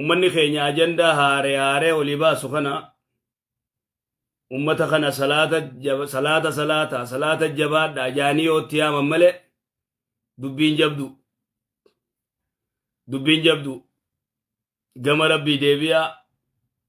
ummanni keenya ajandaa haaree haaree olii baasu kana ummata kana salaata jaba- salaata salaata salaata jabaadha jaanii yoo itti yaaman malee dubbiin jabdu dubbiin jabdu gama rabbii deebi'aa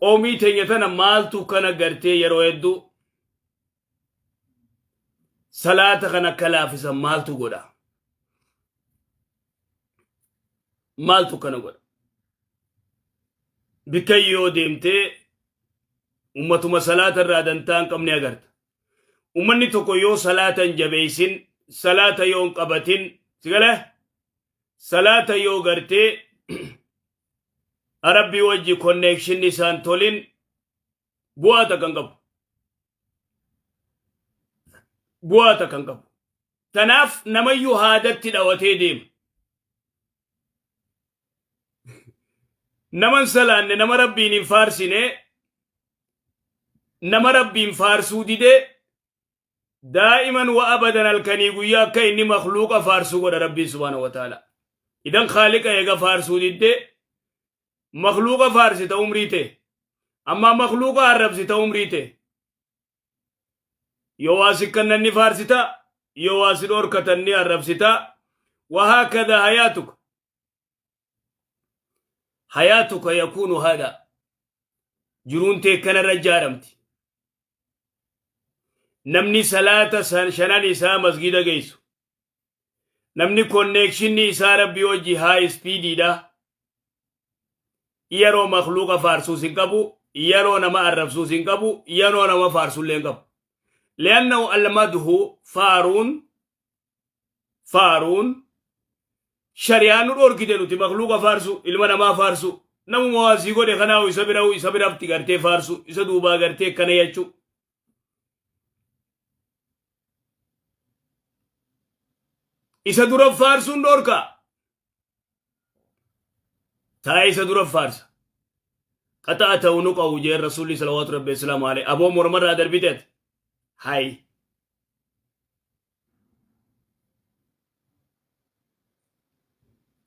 qoomii teenya tana maaltu kana gartee yeroo hedduu salaata kan akka laafisan maaltu godha maaltu kana godha bikka yoo deemtee ummatuma salaata irraa dantaa hin qabne agarta ummanni tokko yoo salaata hin jabeeysin salaata yoo hin qabatin sigale salaata yoo gartee rabbii wajji konneekshinni isaan tolin bu'aa takka hin qabu. Bu'aa takka hin qabu. Tanaaf namayyuu haadatti dhawatee deema. Naman salaanne nama rabbiin hin faarsine nama rabbiin faarsuu didee daa'iman wa abadan halkanii guyyaa akka inni makluuqa faarsuu godha rabbiin subhaana wa ta'ala idan khaaliqa eega faarsuu didde makluuqa faarsita umrii tee ammaa makluuqa arrabsita umrii tee yoo waa sikkannaan ni faarsita yoo waa si dhorkatan ni arrabsita wahaakada hayaatuka hayaatuka yakuunu haadha jiruun tee kanarra ijaaramti namni salaata san shanan isaa masgiida geessu namni konneekshinni isaa rabbii hojii haa ispiidiidha yeroo makluuqa faarsuus hin qabu yeroo nama arrabsuus hin qabu yeroo nama faarsullee hin qabu liannahu almadhu faaruun faaruun shari'aa nu dhorkite nuti makluuqa faarsu ilma namaa faarsu namuma waa sii godhe kanaahu isa bira isa biratti gartee faarsu isa duubaa gartee akkana jechuu isa dura faarsuun dhorka taa'ee isa dura faarsa qaxaa ta'u nu qabu jeen rasuulli salawaatu rabbi islaamu alee aboo mormarraa darbite ati hay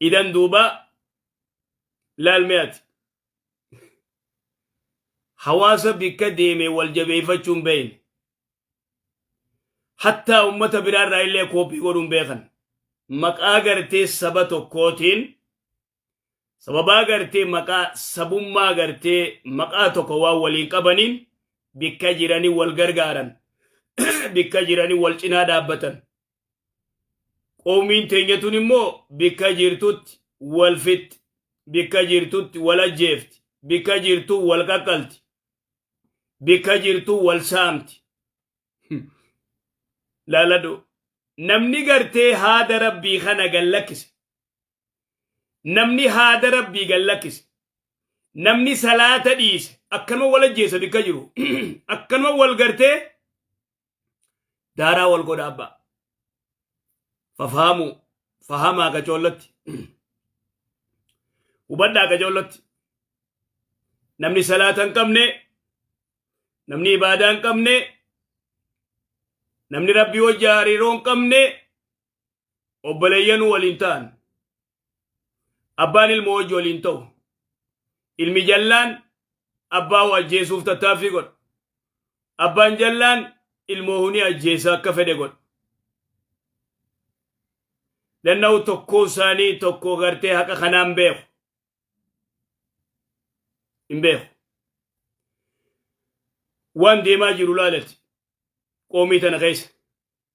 idan duuba laalme ati hawaasa bikka deeme wal jabeeffachuun beeyne hattaa ummata biraa irraa illee kooppii godhuun beekan maqaa gartee saba tokkootiin sababaa gartee maqaa sabummaa gartee maqaa tokko waan waliin qabaniin bikka jiranii wal gargaaran bikka jiranii wal cinaa dhaabbatan qoomiin teenyatuun immoo bikka jirtutti wal fixxi bikka jirtutti wal ajjeefti bikka jirtuu wal qaqqalti bika jirtuu wal saamti laaladhu namni gartee haada rabbii kana gallakkise namni haada rabbii gallakkise namni salaata dhiise akkanuma wal ajjeessa bika jiru akkanuma wal gartee daaraa wal godha abbaa fafahamuu fahamaa gacoollatti hubadhaa gacoollatti namni salaata hin qabne namni ibaadaa hin qabne namni rabbii wajji hariiroo hin qabne obboleeyyanuu waliin ta'an Abbaan ilmoo wajji waliin ta'u. Ilmi jallaan abbaa hoo ajjeesuuf tattaaffii godha. Abbaan jallaan ilmoo huni ajjeesa akka fedhe godha. Lanna'u tokkoo isaanii tokko gartee haqa kanaan beeku. Hin beeku. Waan deemaa jiru laalati. Qoomii tana keessa.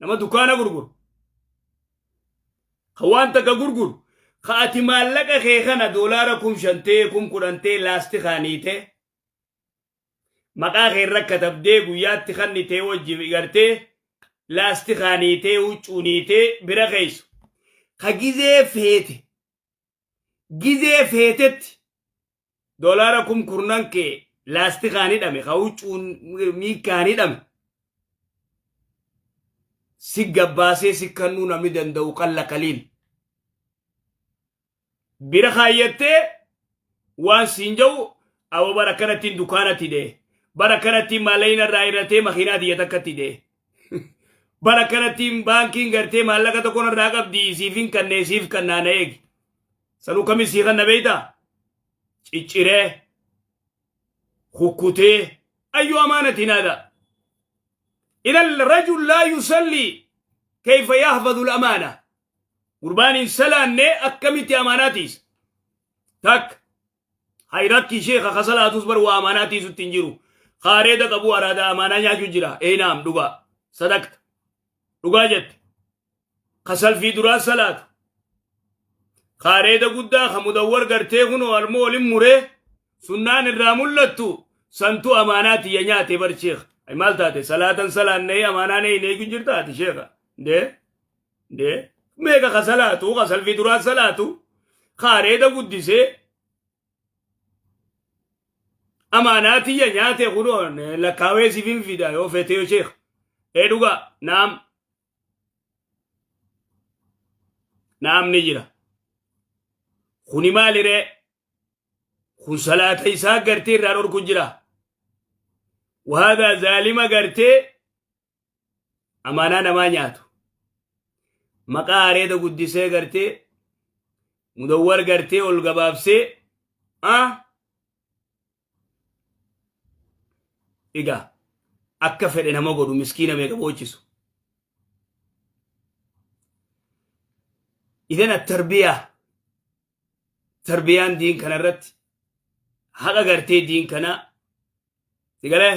nama dukaana gurguru ka waan takka gurguru ka ati maallaqa kee kana doolaara kum shantee kum kudhantee laastikaaniite maqaa kee irra katabdee guyyaatti kannitee wajji gartee laastikaaniitee huccuuniitee bira keeysu ka gizee feete gizee feetetti dolaara kum kurnan kee laastikaan hidhame ka huccuun miikaan hidhame si gabbaasee si kannuu namni danda'u qalla qaliil bira kaayyattee waan siin ja'u awa bara kanattiin dukaanatti dee bara kanattiin maallaina irraa irratee makiinaa tiyya takkatti dee Bara kanattiin baankiin gartee maallaqa tokko irraa qabdi siif hin kannee siif kannaa na eegi. Sanuu kami sii kanna beeyta? Cicciree, kukkutee, ayyuu amaanati naada. Idan rajul laa yusallii kayfa yahfadhu al-amaana. Gurbaan hin salaanne akkamitti amaanaatiis? Takka. Hay rakki sheekha ka salaatus bar waa amaanaa tiisutti hin jiru. Ka areeda qabu araada amaanaa nyaachu jira. Ee naam dhugaa. Sadaqta. Dhugaa jette. Ka salfii duraa salaatu. Ka areeda guddaa ka mudawwar gartee kunoo almoo olin muree sunnaan irraa mul'attu santu amaanaa tiyya nyaate bar sheekha. Hay maal taate salaatan salaannee amaanaan eeyneeku jirta ati sheekha. Dee. Dee meeqa ka salaatu ka salfii duraa salaatu ka areeda guddisee amaanaa tiyya nyaate kunoo lakkaawee siif hin fida yoo feete yoo sheekh ee dhugaa naam naam ni jira kuni maaliree kun salaata isaa gartee irraa dhorku jira wahadaa zaalima gartee amaanaa namaa nyaatu maqaa areeda guddisee gartee mudawwar gartee ol gabaabsee ah egaa akka fedhe nama godhu miskiina meeqa boochisu idan attarbiyaa tarbiyaan diin kana irratti haqa gartee diin kanaa sigalee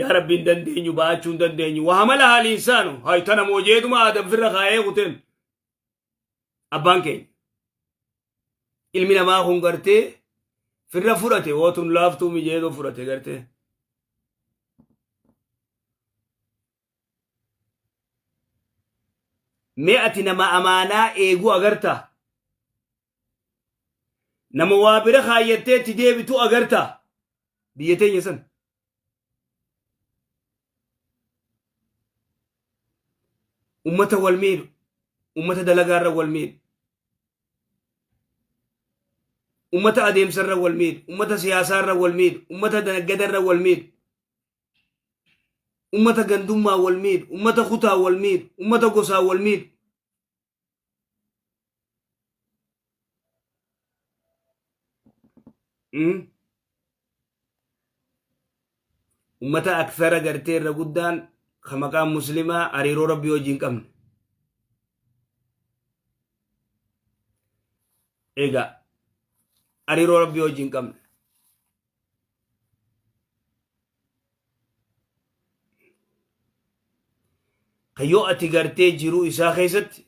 yaa rabbi hin dandeenyu ba'achuu hin dandeenyu waa mala haali insaanu hay tana moojeeduma aadam firra kaa'ee kuteen abbaan keenya ilmi namaa kun gartee firra fudhate wootun laaftuu mijeedoo fudhate gartee Mee ati nama amaanaa eeguu agartaa? Nama waa bira kaayyattee itti deebitu agartaa? Biyya teenya san. Ummata wal miidhu. Ummata dalagaarra wal miidhu. Ummata adeemsarra wal miidhu. Ummata siyaasaarra wal miidhu. Ummata naggadarra wal miidhu. ummata gandummaa wal miidhu ummata kutaa wal miidhu ummata gosaa wal miidhu Mm. ummata aksara gartee irra guddaan ka maqaan muslimaa hariiroo rabbii wajjin qabne egaa hariiroo rabbii wajjin qabne ka yoo ati gartee jiruu isaa keessatti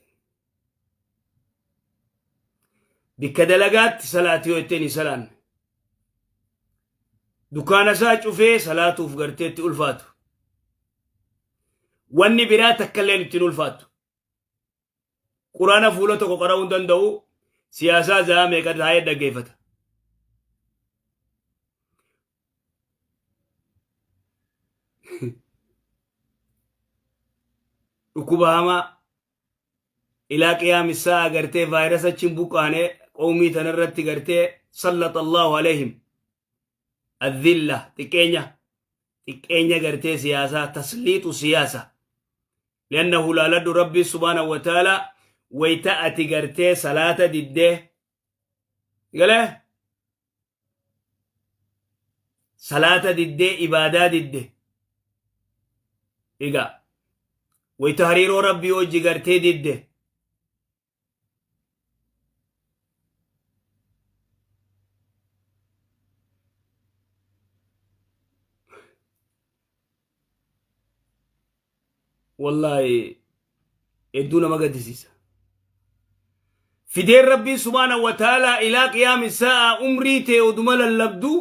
bikka dalagaatti salaati yoo ittiin hin salaanne dukaana isaa cufee salaatuuf garteetti ulfaatu wanni biraa takka illee ittiin ulfaatu Quraana fuula tokko qara'uu hin danda'u siyaasaa zaa meeqa taa'ee dhaggeeffata. Dhukkuba hamaa ilaa qiyaamissaa agartee vaayirasa achiin buqqaanee qoomii tanarratti gartee sallaxallaahu aleehim. Adhilla xiqqeenya xiqqeenya gartee siyaasaa tasliixu siyaasa. Liannahu laaladhu Rabbii subhaanahu wa ta'ala wayta ati gartee salaata diddee galee salaata diddee ibaadaa didde egaa wayta hariiroo Rabbii hojii gartee didde wallaahi hedduu nama gaddisiisa fideen rabbiin subhaana wa ta'aalaa ilaa qiyaami sa'a umrii tee oduma lallabduu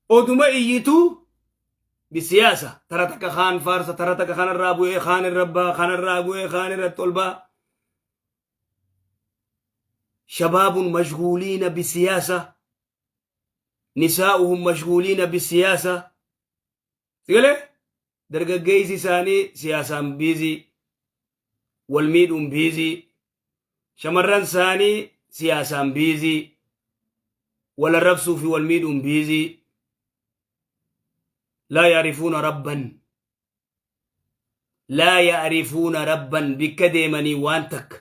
oduma iyyituu bisiyaasa tara takka kaan faarsa tara takka kanarraa bu'ee kaan irra baa kanarraa bu'ee kaan irratti ol baa shabaabun mashguuliina bisiyaasa nisaa'uhum mashguuliina bisiyaasa Sigale dargaggeessi isaanii siyaasaan biizii, wal miidhuun biizii, shamarran isaanii siyaasaan biizii, wal arrabsuu fi wal miidhuun biizii. Laa yaarifuuna rabban. Laa yaarifuuna rabban bikka deemanii waan takka.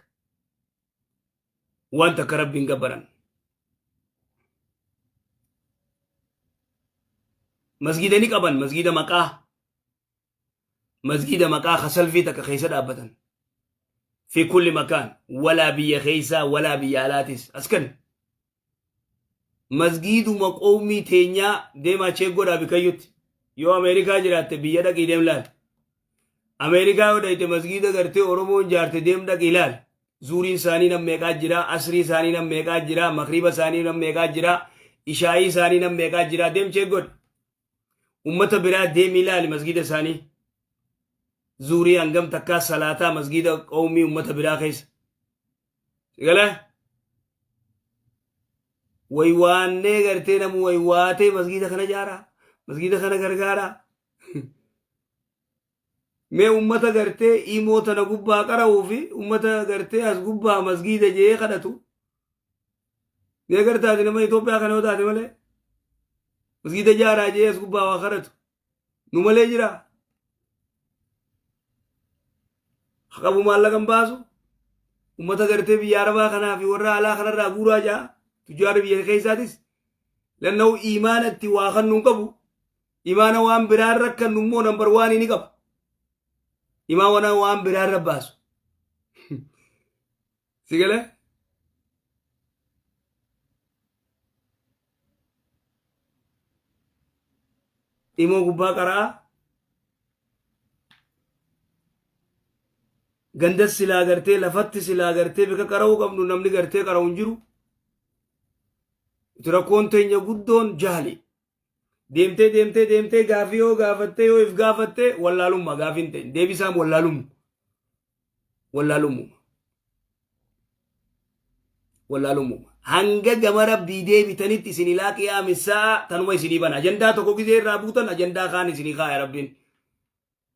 waan takka rabbiin gabbaran masgiida ni qaban masgiida maqaa masgiida maqaa kasalfii takka keessa dhaabbatan fi kulli makaan walaa biyya keessaa walaa biyya alaatis askan masgiiduma qowmii teenyaa deemaa cheek godhaa bikayyutti yoo ameerikaa jiraatte biyya dhaqii deem laal ameerikaa yoo dhayte masgiida gartee oromoon jaarte deem dhaqii laal zuuriin isaanii nam meeqaa jira asrii isaanii nam meeqaa jira makriiba isaanii nam meeqaa jira ishaayii isaanii nam meeqaa jira deem cheek godha ummata biraa deemii ilaali masgiida isaanii zuurii hangam takkaa salaataa masgiida qawmii ummata biraa keessa sigala waywaannee gartee namu waywaatee masgiida kana jaaraa masgiida kana gargaaraa Mee ummata gartee imoo tana gubbaa qara'uu fi ummata gartee as gubbaa masgiida jee kadhatu. Ni agartaati nama Itoophiyaa kana yoo taate malee masgiida jaaraa jee as gubbaa waa kadhatu. Nu malee jira. Haqabu maallaqa hin baasu. Ummata gartee biyya Arabaa kanaa fi warra alaa kanarraa guuraa jaa. Tujjaara biyya keessaatis. Lanna'u imaanatti waa kan nun qabu. Imaana waan biraan rakkannu immoo nambar waanii ni qaba. Imaana waan biraan rabbaasu. Si galee? Imoo gubbaa qara'aa. Gandas silaa gartee lafatti silaa gartee bika qara'uu qabnu namni gartee qara'u hin jiru. Itti rakkoon teenya guddoon jaali. Deemtee deemtee deemtee gaafii yoo gaafattee yoo if gaafattee wallaalummaa gaafii hin ta'in deebisaam wallaalummu. Wallaalummu. Wallaalummu. Hanga gama rabbii deebitanitti isin ilaa qiyaamis sa'a tanuma isinii bana. Ajandaa tokko gizee irraa buutan ajandaa kaan isinii kaaya rabbiin.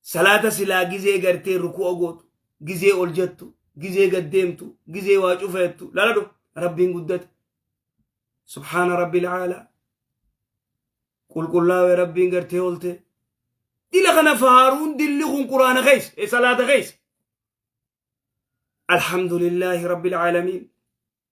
Salaata silaa gizee gartee ruku'a gootu, gizee ol jettu, gizee gad deemtu, gizee waa cufeettu laladhu rabbiin guddate. Subhaana rabbil caalaa. Qulqullaa'e rabbiin gartee olte. Dila kana faaruun dilli kun quraana keessa, e salaata keessa. Alhamdulillaahi rabbil caalamiin.